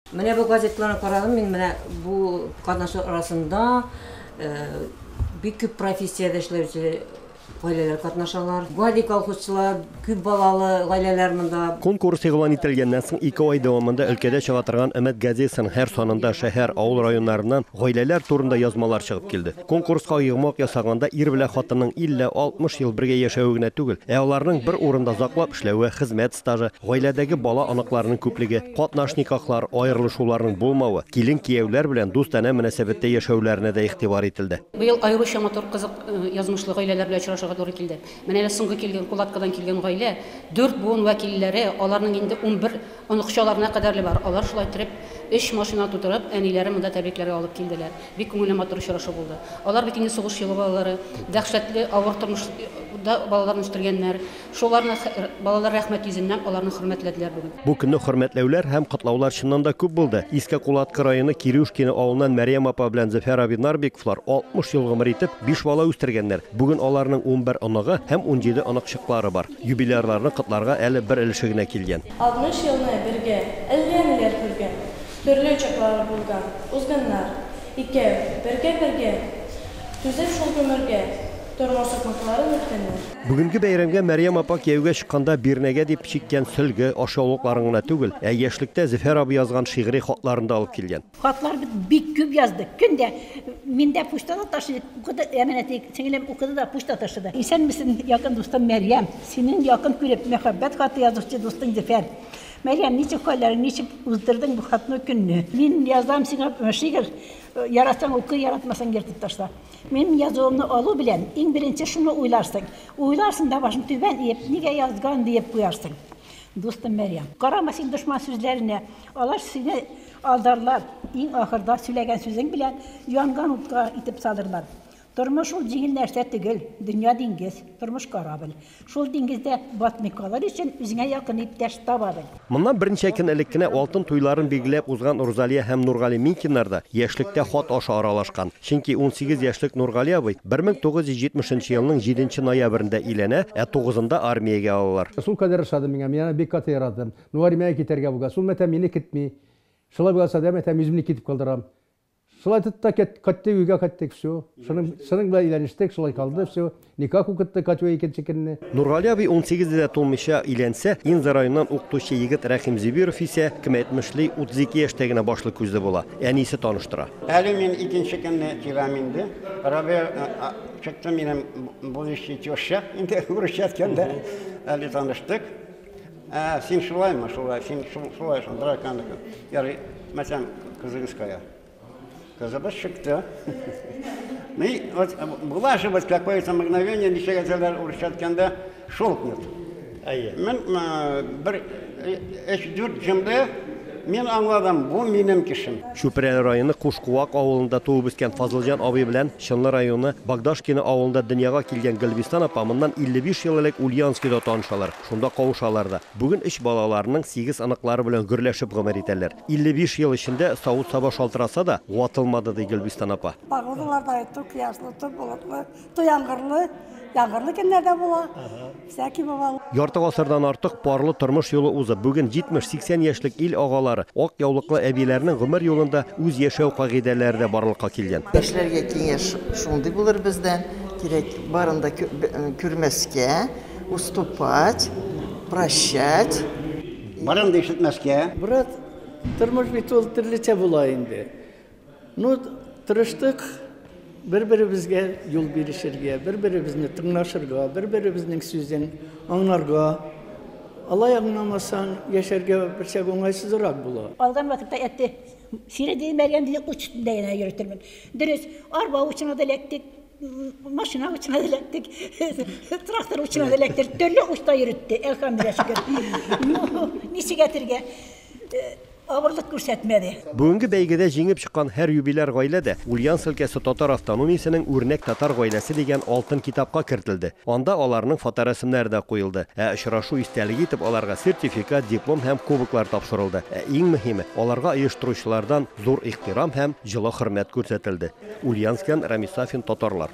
Менә бу газетларны карадым мин, менә бу катнашлар арасында бик күп профессиядә эшләүче гаиләләр катнашалар. Гади колхозчылар, күп балалы гаиләләр монда. Конкурс игълан ителгәннән соң ике ай дәвамында өлкәдә чыга торган Өмет газетасының һәр санында шәһәр, авыл районнарыннан гаиләләр турында язмалар чыгып килде. Конкурска йомгак ясаганда ир белән хатынның 50-60 ел бергә яшәве генә түгел, ә аларның бер урында заклап эшләве, хезмәт стажы, гаиләдәге бала-оныкларының күплеге, катнаш никахлар, аерылышуларның булмавы, килен-кияүләр белән дустанә мөнәсәбәттә яшәүләренә дә игътибар ителде. Быел аеруча матур, кызык язмышлы гаиләләр белән очрашырга туры килде. Менә әле соңгы килгән Кулаткадан килгән гаилә, дүрт буын вәкилләре, аларның инде унбер Оныкчаларына кадәрле бар. Алар шулай иттереп, өч машина тутырып, әниләрен монда тәбрикләргә алып килделәр. Бик күңелле, матур очрашу булды. Алар бит инде сугыш елы балалары, дәһшәтле авыр тормышда балаларын үстергәннәр. Шуларны балалар рәхмәт йөзеннән аларны хөрмәтләделәр бүген. Бу көнне хөрмәтләүләр һәм котлаулар чыннан да күп булды. Иске Кулаткы районы Кирюшкино авылыннан Мәрьям апа белән Зөфәр абый Нарбековлар 60 ел гомер итеп, биш бала үстергәннәр. Бүген аларның унбер оныгы һәм унҗиде оныкчыклары бар. Юбилярларны котларга әле бер өлеше генә килгән. Алтмыш елны бергә, әллә ниләр күргән, Төрле чаклары булган, узганнар. Икәү, бергә-бергә, түзеп шул гомергә, Тормыш сукмакларын үткәннәр. Бүгенге бәйрәмгә Мәрьям апа кияүгә чыкканда бирнәгә дип чиккән сөлге, ашъяулыкларын гына түгел, ә яшьлектә Зөфәр абый язган шигъри хатларын да алып килгән. Хатлар бит бик күп яздык. Көн дә мин дә почтада ташыйм. Укыды, әманәти сеңлем укыды да почта ташыды. Исәнмесен, якын дустым Мәрьям. Синең якын күреп, мәхәббәт хаты язучы дустың Зөфәр. Мәрьям, ничек хәлләрең, ничек уздырдың бу хатны, көнне? Мин язам сиңа шигырь, яратсаң укы, яратмасаң ертып ташла. Минем язуымны алу белән, иң беренче шуны уйларсың. Уйларсың да башың түбән иеп, нигә язган диеп куярсың. Дустым Мәрьям. Карама син дошман сүзләренә, алар сине. Алдарлар, иң ахырда сөйләгән сүзең белән янган утка итеп салырлар. Тормыш ул җиңел нәрсә төгел, дөнья диңгез, тормыш корабль. Шул диңгездә батмый калыр өчен үзеңә якын иптәш таба бел. Моннан берничә көн элек кенә алтын туйларын билгеләп узган Урзалия һәм Нургали Минкиннар да яшьлектә хат аша аралашкан. Чөнки унсигез яшьлек Нургали абый 1970 нче елның җиденче ноябрендә өйләнә, ә тугызында армиягә алалар. Шулкадәр ошады миңа, мин аны бик каты яратам. Ну армиягә китәргә булгач, ул мәтәм мине көтми. Шулай булган чакта мәтәм үземне китеп калдырам. Шулай итеп тә кайттык, өйгә кайттык, всё. Шуның, шуның белән өйләнештек, шулай калды, всё. Никах укыттык Катюга икенче көнне. Нургали абый унсигездә дә тулмыйча өйләнсә, Инза районыннан укытучы егет Рәхим Зөбиров исә, кем әйтмешли, 32 яшьтә генә башлы-күзле була. Әнисе таныштыра. Әле мин икенче көнне киләм инде. Рабия чыкты минем будущий теща, инде урысча әйткәндә. Әле таныштык. Ә, син шулаймы, шулай, син шулай шул, дракан. Ярый, мәсәлән, кызыгыз кая? Кызыбыз чыкты. Ну и вот э, была же вот какое-то мгновение, ничего газелер урысча айтканда, шолкнет. Әйе. Мен э, бер эш дүрт җөмлә Мин аңладым, бу минем кешем. Чүпрәле районы Кушкуак авылында туып үскән Фазылҗан абый белән Чынлы районы Богдашкино авылында дөньяга килгән Гөлбистан апа моннан 55 ел элек Ульяновскида танышалар, шунда кавышалар да. Бүген өч балаларының сигез оныклары белән гөрләшеп гомер итәләр. 55 ел эчендә савыт-саба шалтыраса да, ватылмады, ди Гөлбистан апа. Погодалар да тук язлы, тук болытлы, Яңгырлы, яңгырлы көннәрдә була. Всякий бывал. Ярты гасырдан артык парлы тормыш юлы узып, бүген 70-80 яшьлек ил агалары, ак яулыклы әбиләрнең гомер юлында үз яшәү кагыйдәләре дә барлыкка килгән. Яшьләргә киңәш шундый булыр бездән, кирәк барын да күрмәскә, уступать, прощать. Барын да ишетмәскә. Брат, тормыш бит ул төрлечә була инде. Ну, тырыштык бер-беребезгә юл бирешергә, бер-беребезне тыңлашырга, бер-беребезнең сүзен аңларга. Алай аңламасаң, яшәргә берчак уңайсызрак була. Калган вакытта әтте сире димәгән диде, ут өстендә генә йөртермен. Дөрес, арба учына да эләктек, машина учына да эләктек, трактор учына да эләктек, төрле учта йөртте, әлхәмдүлилләһ шөкер. Ну, ничек әтергә? Авырлык күрсәтмәде. Бүгенге бәйгедә җиңеп чыккан һәр юбиляр гаилә дә Ульяновск өлкәсе татар автономиясенең үрнәк татар гаиләсе дигән алтын китапка кертелде. Анда аларның фоторәсемнәре дә куелды. Ә очрашу истәлеге итеп аларга сертификат, диплом һәм кубоклар тапшырылды. Ә иң мөһиме, аларга оештыручылардан зур ихтирам һәм җылы хөрмәт күрсәтелде. Ульяновскидан Рамис Сафин, Татарлар.